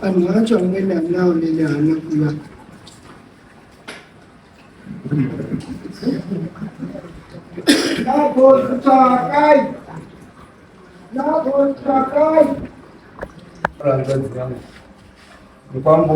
anhu acho amwene anawo nene hana kuva nagotsvakai nagotsvakai mukwambo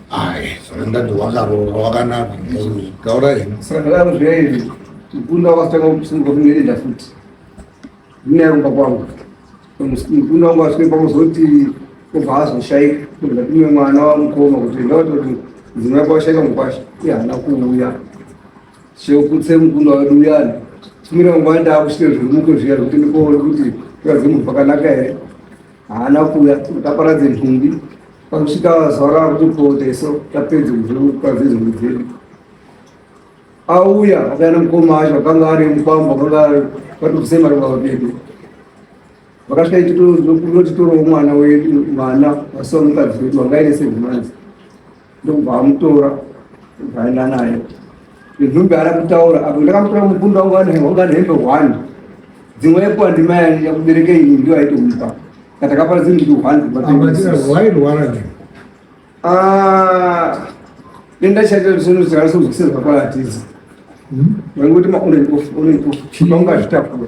Aye, saka ndati wakaroora wakanaka taura heni saka ndadaro zviyairi mukunda wakatanga kusunga kungeenda futi ndinayarumba kwangu mukunda wangu asvike pamuzoti obva azoshaika ndatiwe mwana wamukoma kuti ndavatoti mudzimu yako washaika mukwasha iye haana kuuya chekutse mukunda wedu uyani tumira mangwana ndaakusvike zvirimuke zviya zvekuti ndikoone kuti kazimubva kanaka here haana kuuya kuti aparadze nhumbi pakusvika zuva rava kuti pooteso tapedze kuzviparadze nhumbi dzedu auya akauya nemukoma wacho akanga ari mukwambo akanga vatobvise mari baba vedu vakasvika ititotitorawo mwana wedu mwana vasiwa mukadzi wedu vangaine sevemanzi ndokubva amutora ndobva aenda naye inhumbi ana kutaura apo ndakamutora mubundo wangu wanga nehembe hwani dzimwe epo andima yakubereka ini ndiyo aitomupa katakapara dzini nditi hwani ah, denda chaita sino zikana sozvikisezva kwaatiza vaingoti maunaipofu chipa ungazvitakura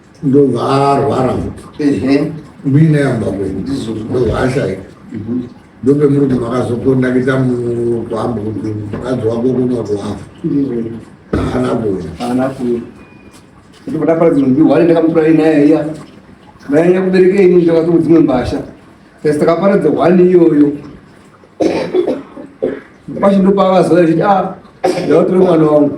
ndobva arwara muine yamba kwendovaashaika ndobe murume makazokondakita mukwambo kuti mukadzi wako kunoto wafa haana kuya haana kuya kuti kuda pari dzimwe wari ndakamutura inaya iya nayanya kubereka ini ndakatoku dzimwe mbasha kasi takaparadza hwani iyoyo kwacho ndopavazora chiti a ah, ndavatore mwana wangu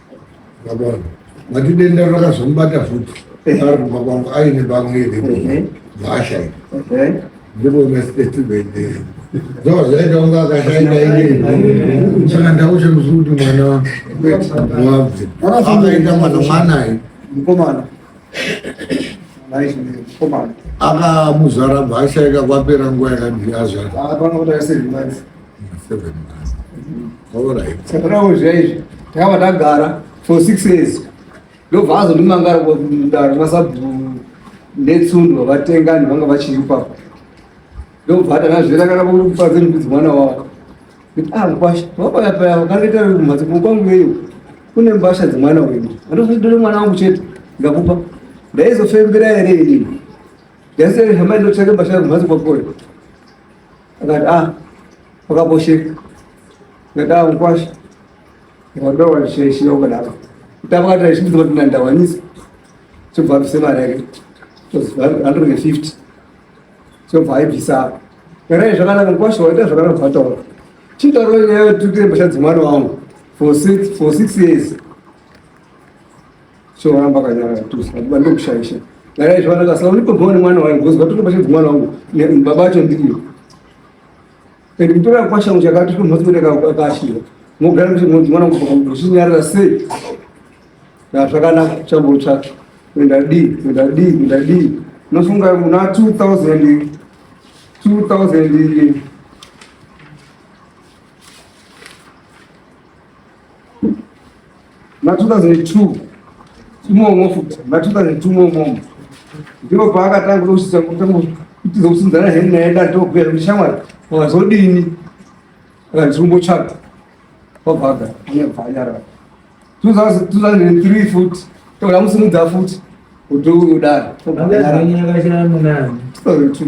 Mati denda rakazomubata futi ari kumba kwangu aine bamwe iri bhasha iri ndipo mesitetivendi zvava zvaita kunge akashaita ini saka ndaushe musi kuti mwana wabve akaita mwana mwanayi mukomana akamuzvara bhasha ikakwapera nguva yakadii azvara sakanawo zvaizvi takava tagara for six years ndobva azondimangara kudaro masabhuru netsundwa vatengani vanga vachiri ipapo ndobva atana zvirakana kupadze ndikudzi mwana wavo ah, kwasha vapaya paya vakandiita kumhatso kwangu iyo kune mbasha dzemwana wedu andozodore mwana wangu chete ndakupa ndaizofembera here inini ndasiyari hama inotsvake mbasha kumhatso kwakoyo Akati ah, wakaposheka. Akati ah, ukwasha. Wakadoa wachishaishi wakadaro. Kutamba kati aishimbiza kuti ndandawanisa. Chobva abvisa mari yake. Chobva 150. Chobva aibvisa. Kana zvakanaka ukwasha waita zvakanaka zvataura. Chitaura nyaya yekuti mbatya dzemwana wangu for six for six years. Choramba kanyara tusa bando kushaisha. Dai izvo vanaka saka ulipo bone mwana wangu gozwa tuko pashe mwana wangu baba acho ndiyo. Kandi mtora kwasha uchakati tuko mhatso ndeka kwashira. Mogara kuti mwana wangu kwa kuchinyarira sei. Na zvakanaka chambo tsvaka. Kuenda di, kuenda di, kuenda di. Nofunga kuna 2000 2000 na 2002 chimomwo futi na 2002 momwomo ndipo paakatanga kutousisa kutiza kusinzana heni naye dati okubhuya kuti shamwari wakazodini akanzi kumbotsvaga wabvaga anyabva anyarara 2003 futi toda musimudza futi kuti udaro 2002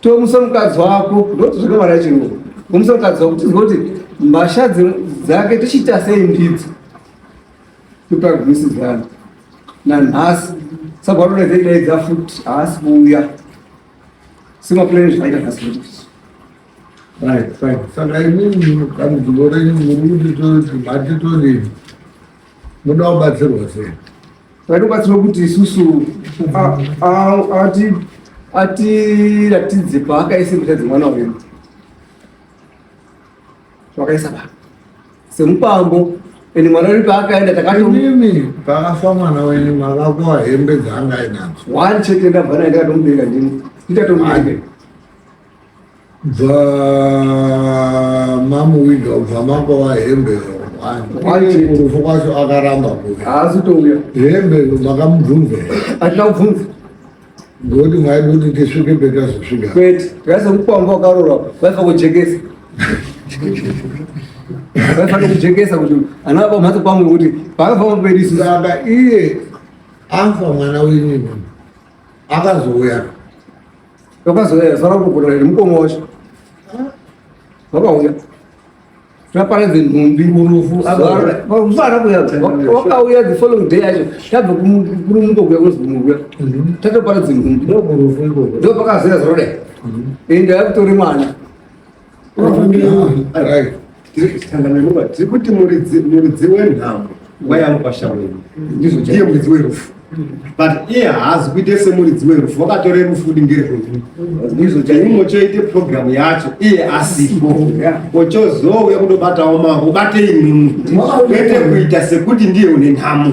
Tomusa mukadzi wako ndoti zvakamara chirungu. Tomusa mukadzi wako tizwe kuti mbasha dzake tichiita sei ndidzo. Kupa gwisi dzangu. Na nhasi sabharura zai dai dzafuti haasi kuuya. Sima plan zvaita nhasi kuti. Right, right. Saka ini mukadzi gore muruti to mati to leave. Muda kubatsirwa sei? Tinobatsira kuti isusu atiratidze paakaisa mbuta dzemwana wedu wakaisa pa semupambo ende mwana uri paakaenda takatomimi pakafa mwana wenyu makakoa hembe dzaanga ainadzo wani chete ndabva naye ndakatomubereka ndini nditatomubereka bva mamuwinda ubva mangova hembe rufu kwacho akaramba haasi touya hembe makamubvunza hatina kubvunza ngokuti mwaida kuti tisvike petazosvika kwete tikazokukwamba wakarora vaifa kujekesa vaifanira kujekesa kuti ana vapa mhatso pamwe kuti vakafamba pedi saka iye afa mwana wenyu akazouya Zvakazoyazara kugona iri mukoma wacho vakauya zvaparadze nhumbi murufu vana kuyavakauya the following day yacho tabva kurumuka kuya kunzi muruya tatoparadze nhumbi ndopakazoya zoroda ende akutori mwana tiri kuti muridzi wenhamo wayanga kwashaweni ndizvo ndiye muridzi werufu but iye haazi kuite semuridzi werufu wakatore rufu kuti ngerwedu ndizvo chaimwe choite programu yacho iye asipo ochozouya kundobatawo mavo bate imimi kwete kuita sekuti ndiye une nhamo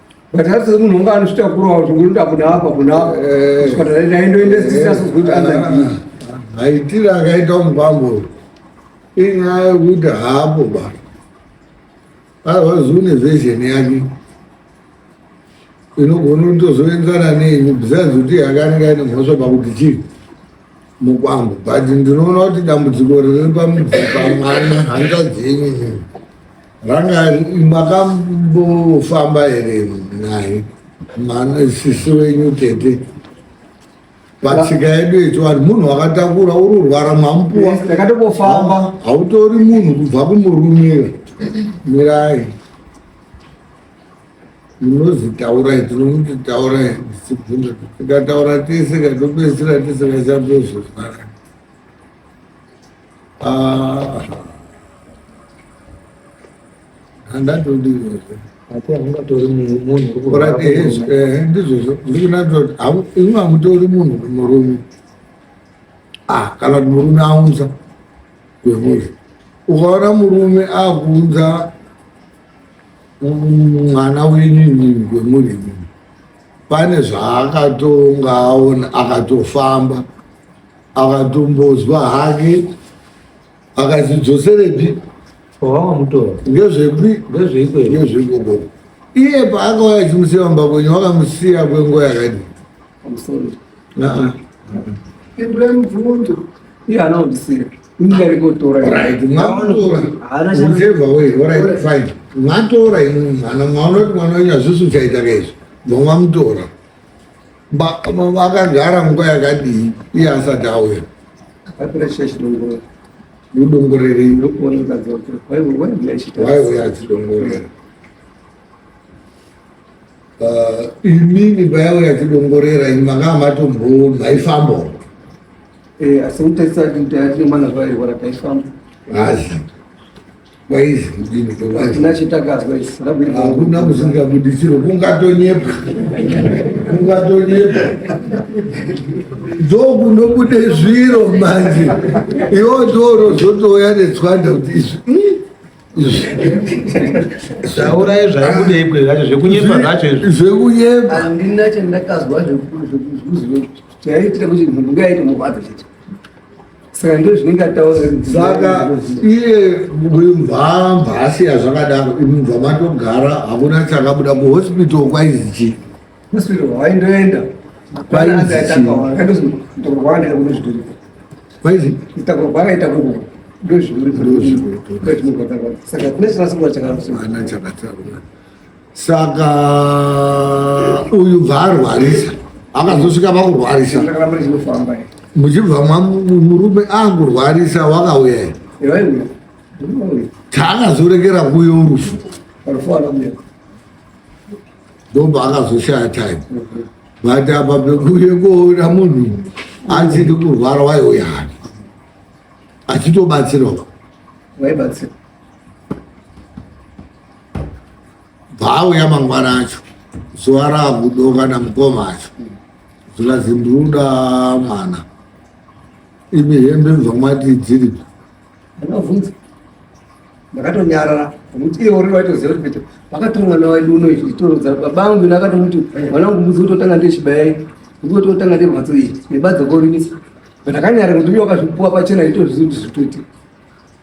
but asi munhu unga anozvitakurawo zvokunoda kuda apa kuna apa kusvika eh. ndaindoendesisa sozikuti andadii maitire akaita mubambo inyaya yokuti haapo basa avazivi nezvezheni yake inogona kutozoenzana nenyu besides kuti yakanenge aine mhosva pakuti chii mukwambo but ndinoona kuti dambudziko riri pamwana hanza dzenyu Ranga makambofamba here naye mane sisi wenyu tete patsika yedu yechivanhu munhu wakatakura uri urwara mwamupuwa ndakatokofamba hautori munhu kubva kumurumira mirai munozitaurai tinomutotaura zibvunza tikataura tese katopedzisira tisikachapezvozvaka Ah. Handatodiwezve. Ati haungatori munhu uri kurapa. Eh, ndizvozvo. Ndiri kunatira kuti hamu imi hamutori munhu uri murume. Ah, kana kuti murume aunza kwemuzvi. Ukaona murume akuunza mwana wenyu inini kwemuri inini pane zvaakatonga aona akatofamba akatombozwa hake akazidzoserepi wavamutora ngezvepi ngezveikoko iye paakauya achimusiya mumba kwenyu wakamusiya kwenguva yakadi mwatora mwana mwaona kuti mwana wenyu hazvisi uchaita kaizvo vamwamutora vakagara nguva yakadii iye asati auya mudongorerei waiuya achidongorera uh, imini payauya achidongorera ini makanga matombo maifambawo eh, asi utasati taatinemwana zvairwara taifamba hazi kwaizi kudini kwatina chitakadzwa isu hakuna musingabudisiro kungatonyepa kungatonyepa ndokunobude zviro manje iwo toro zvotouya netswanda kuti izvi zvaurai zvaibude ikwe zvacho zvekunyepa zvacho izvi zvekunyepa andina chandakazwa zvekuziva chaitira kuti munhu ngaite murwadza chete saka ndozvinenge ataura saka iye mvamba asiya zvakadaro imubva matogara hakuna chakabuda kuhospital kwaizi chii hospital haindoenda kwaizi itakwa kwakaita kuku ndozviri ndozviri saka kune chirasikuwa chakasiyana chakataura saka uyu bvaarwarisa akazosvika pakurwarisa muchibva murume angurwarisa wakauya taakazorekera kuyo rufu ndomba akazoshaya time but apa pekuye koona munhu achiti kurwara waiuya hani achitobatsirwa waibatsirwa bvaauya mangwana acho zuva raakudoka namukoma acho zvikazi ndiruda mwana imi hembe zvamati dziripi ndakavhunza ndakatonyarara nokuti iye uri waitoziva kuti peto vakatora mwana waidu uno izvi nditoroza baba angu ina akatomuti mwana wangu mudzi kutotanga ndechibaya iyi mudzi kutotanga ndemhatso iyi nebadza korimisa but akanyara kuti uye wakazvipuwa pachena itozvizi kuti zvitoite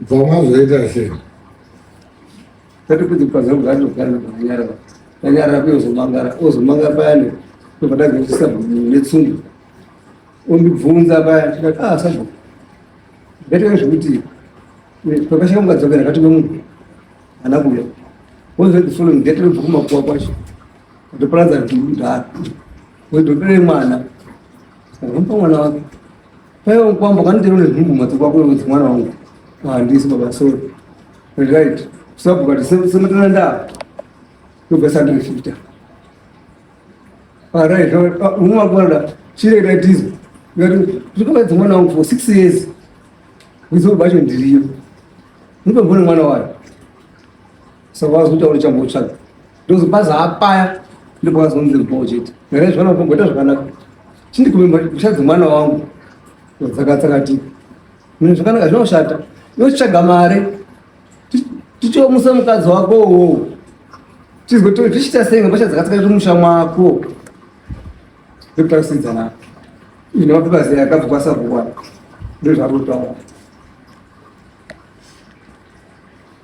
Bvama zvoita sei? Tati kuti pazangu zvacho kana kunyara. Tanyara pio zomangara, ozomanga payani. Topatanga kusa netsundu. Undibvunza payani tikati ah sabu. Bete zvokuti pakashika mukadzokera kati nomunhu ana kuya. Wozve the following day tiri bvuma kuwa kwacho. Ndoparadza kuti ndati. Wozve mwana. Saka mwana wake. Paiwa mkwambo kanitero nezvumbu madziko ako wevudzi mwana wangu. Handisi baba sorry. Right. Sabu kati semetana nda. Kuga sandi mfita. All right. Unwa kwanda. Chire right is. Ngati tukoba dzimwe mwana wangu for 6 years. Kuzo bacho ndiriyo. Ndipo mbona mwana wayo. Sabazo utauri chambo chako. ndozobhaza hapaya ndipo kazonzi ribhoo chete nyaya zvana kumboita zvakanaka chindikume mhosva dzemwana wangu dzakatsakatika mune zvakanaka zvinoshata yotsvaga mare tichiomusa mukadzi wako uwowo tizwe to zvichiita sei mhosva dzakatsakatika musha mwako ekutausidzana ine mapepa zai akabva kwasakuwana ndozvakutotaura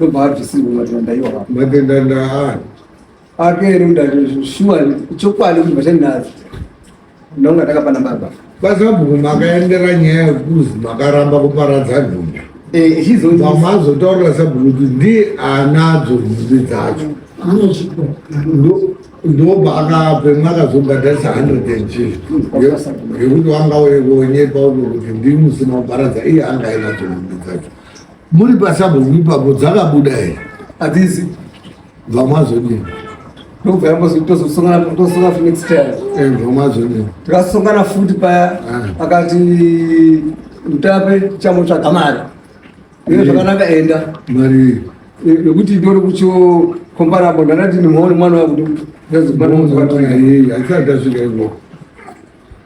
ndobva abvisirwa matenda ndaiwa matenda ndaani akeri ndati shuwa chokwadi kuti vachandinazi ndonga ndakapana baba kwasabhuku makaendera nyaya yekuzi makaramba kuparadza nhumbi pamazotaurira sabhuku kuti ndi anadzo nhumbi dzacho ndobva akape mwakazobhadharisa hundred and fifty yekuti wanga wekonyepa uko kuti ndimusina kuparadza iye anga ainadzo nhumbi dzacho Muri pasabo ipapo dzakabuda here? Hadzizi. Bva mwazodini? Ndobva yambozotozosongana totosonga futi next time. Eh, bva mwazodini? Tikasongana futi paya ah. akati mutape chamotsvaga mari. Iye zvakanaka enda. Mari nekuti ndori kucho comparable ndandati ndimhaone mwana wakuti ndazikwanaaisati asvika ivoko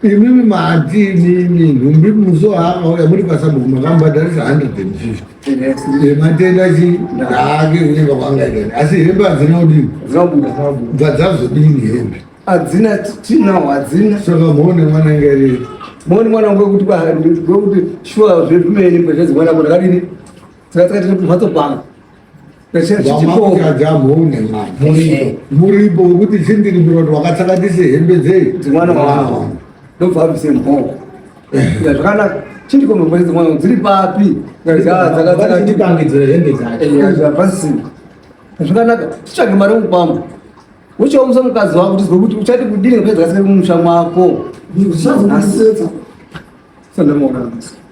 imimi mahanti imimi nhumbi muso haakauya muri pasabuku makambadharisa 150 ematenda chi ndaake kunyenga kwangaitani asi hembe hadzina kudini bva dzazodini hembe hadzina tinawo hadzina saka mhone mwana inga iri mhone mwana wekuti kwekuti shuwa zvezvimene kwezvezimwana mwana kadini tikatsakatiri kumhatso kwangu vamamukadzi amhune mani muripo wekuti chindirimbira kuti wakatsakatisa hembe dzei dzimwana wavo ndobva abvise mhoko zvakanaka chindikombe kwese mwana dziri papi dzakatsakatipangidzira hembe dzachopasina zvakanaka titsvage mari mupamba uchaomisa mukadzi wako tizwe kuti uchati kudini kupedza kasika kumusha mwako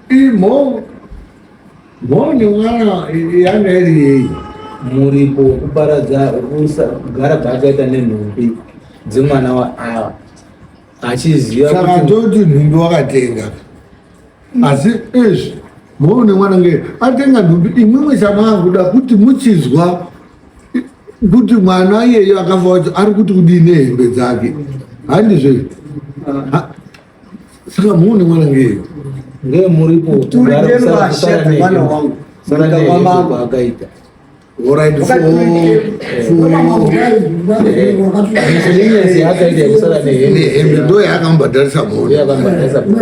Imo mhoni mwana yanga iri yeyi muripo wekuparadza kugara paakaita nenhumbi dzemwana waava achiziva saka toti nhumbi wakatenga asi izvi mhoni mwana nge atenga nhumbi imwimwe chamanguda kuti muchizwa kuti mwana iyeyo akafa wacho ari kuti kudii nehembe dzake handizvo ah. Saka muone mwana ngei. Ngei muripo. Turi ngeni vashata mwana wangu. Saka kwa mambo akaita. Alright, for for hembe ndo yaakambhadharisa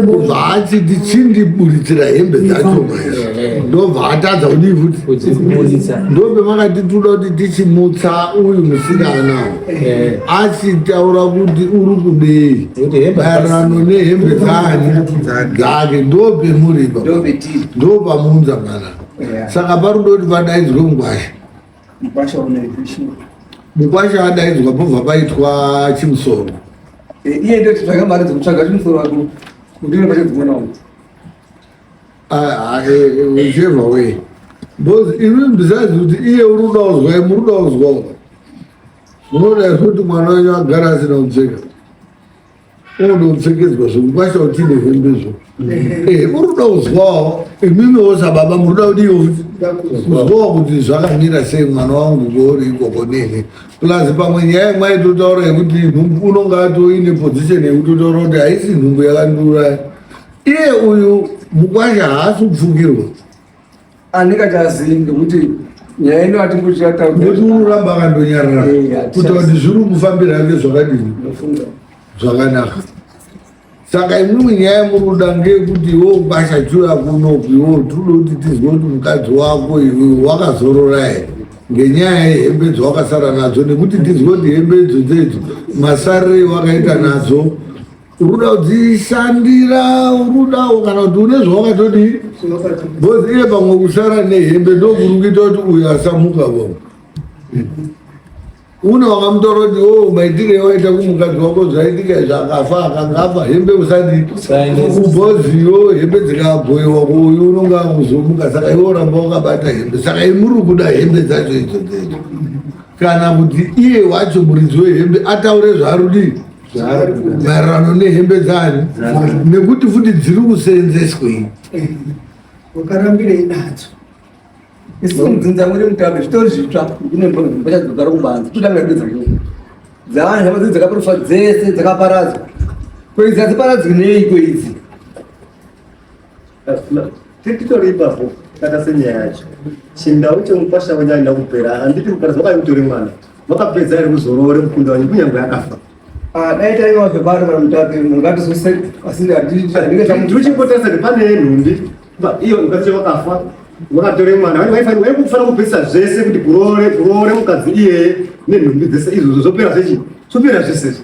mhonaachiti chindiburitsira hembe dzacho ndobva atadza kudii futi ndopemakati tinoda kuti tichimutsa uyu musikana Eh. asi taura kuti uri kudei maererano nehembe dzake ndopemuripa ndopamuunza mwana saka parudo kuti vadaidzwe mukwasha mukwasha adaidzwa pobva paitwa chimusoro eh, iye ndotsvaga mari dzekutsvaga chimusoro wako ndinoaomwana Ah, eh, eh, whichever way because imi besides kuti iye uri kuda kuzwa imi uri kuda kuzwa uka munoda kuti mwana wenyu agara asina kupfeka unoda kupfekedzwa zvinhu kwasha kuti ine hembe zvo uri kuda kuzwawo imimiwo sababa muri kuda kuti iyo kuzwawo kuti zvakamira sei mwana wangu kuori ikoko nene plus pamwe nyaya mwaitotaura yekuti unonga atoine position yekutotaura kuti haisi nhumbu yakandiuraya iye uyu mukwasha haasi kupfukirwa andikachazii ngekuti nyaya ino atingochataunekuti unoramba akandonyarara kuita kuti zviri kufambira ake zvakadini zvakanaka saka imwimwe nyaya muruda ngeyekuti iwe ukwasha chuya kunoku iwe tinoda kuti tizwe kuti mukadzi wako iwe wakazorora here ngenyaya yehembe dzawakasara nadzo nekuti tizwe kuti hembe idzo dzedzo masarire wakaita nadzo ukuda kudzishandira ukudawo kana kuti une zvawakatodii bcoz iye pamwe kusara nehembe ndokuri kuita kuti uyo asamuka vavo une wakamutora kuti o oh, maitire ewaita kumukadzi wako zvaitika izvi akafa akangafa hembe usadi kubhoziyo hembe dzikagoiwa kuuyu unonge akuzomuka saka iwe oramba wakabata hembe saka imuri kuda hembe dzacho idzo dzecho kana kuti iye wacho muridzi wehembe ataure zvarudii maererano nehembe dzayo nekuti futi dziri kuseenzeswei wakarambirei nadzo isinzinza muri mutabe zvitori zvitsva ndinebachadzogara kubanza totanga kuedza dzavanhu hama dzakaprofwa dzese dzakaparadzwa koidzi hadziparadzwi neiko idzi titori ipapo tata senyaya yacho chindau chemukwasha wenyu aina kupera handiti mukadzi wakaiutori mwana vakapedza here kuzoroore mukunda wanyu kunyange akafa ah, dai taiva zvebari kana mutapi mungatizose asi ndiuchipotesa nepane yenhumbi iyo mukadzi wakafa wakatore mwana vani waifanira waikufana kupesa zvese kuti kuroore kuroore mukadzi iyeye nenhumbi dzese izvozvo zvopera zvechi zvopera zvese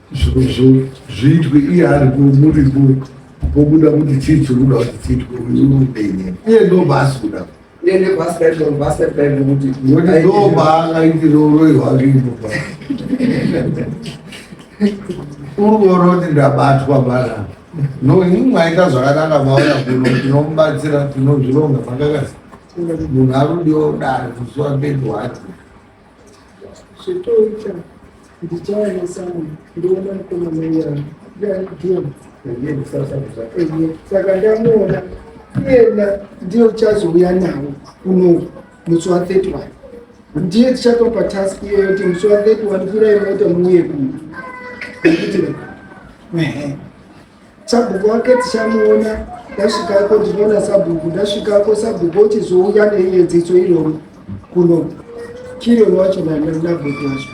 zvinhu zviitwe iye aripo muripo pobuda kuti chii chikuda kuti chiitwe uyu upenye iye ndobhaasi kuda ndobaakaitirouroi hwake ipopa uruoro kuti ndabatwa mbara no ini mwaita zvakanaka maona kuno tinomubatsira tinozvironga makakasi munhu arudiwa kudaro kusuwa mberi wacho Zvitoita ndichaya nesamu ndiona mukoma meyana ndaidimu saka ndamuona iyena ndiye uchazouya nawo unoku musi wa 31 ndiye tichatopa task iyoyo kuti musi wa 31 kurai mota muuye kuno Sabhuku wake tichamuona ndasvikako ndinoona sabhuku ndasvikako sabhuku ochizouya neiyedziso iroro kuno chirion wacho nabhuku wacho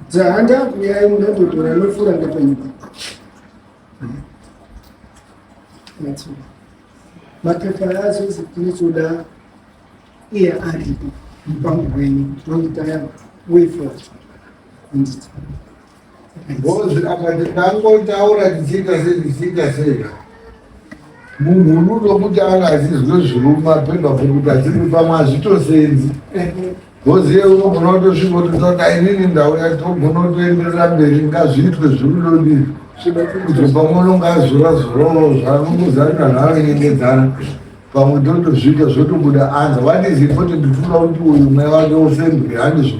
dzahandakuyai munatotora nofura ndapanyika mapepa azozi tinotoda iye aripo mupango wenyu tinoitaya wefo anditi Ngozi akati tangotaura tichiita sei tichiita sei munhunudo kuti anga achizwe zviruma pedwa pekuti achiri pamwe hazvitosenzi ngozi ye unogona kutosvika kuti saka inini ndauya togona kutoenderera mberi ngazviitwe zvirudodii kuti pamwe unonga azora zoroo zvanongozarira zvaanonyengedzana pamwe totozviita zvotobuda anza what is important toda kuti uyu mweya wake ufembwe handizvo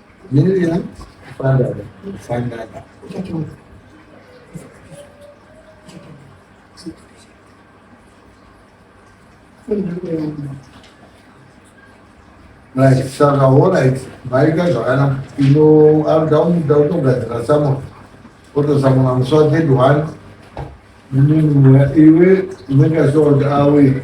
Mira, fanda, fanda. Right, saka alright, maika zvakanaka ino anoda kuda kutogadzira samona otosamona musi wa third one iwe unenge asokuti awe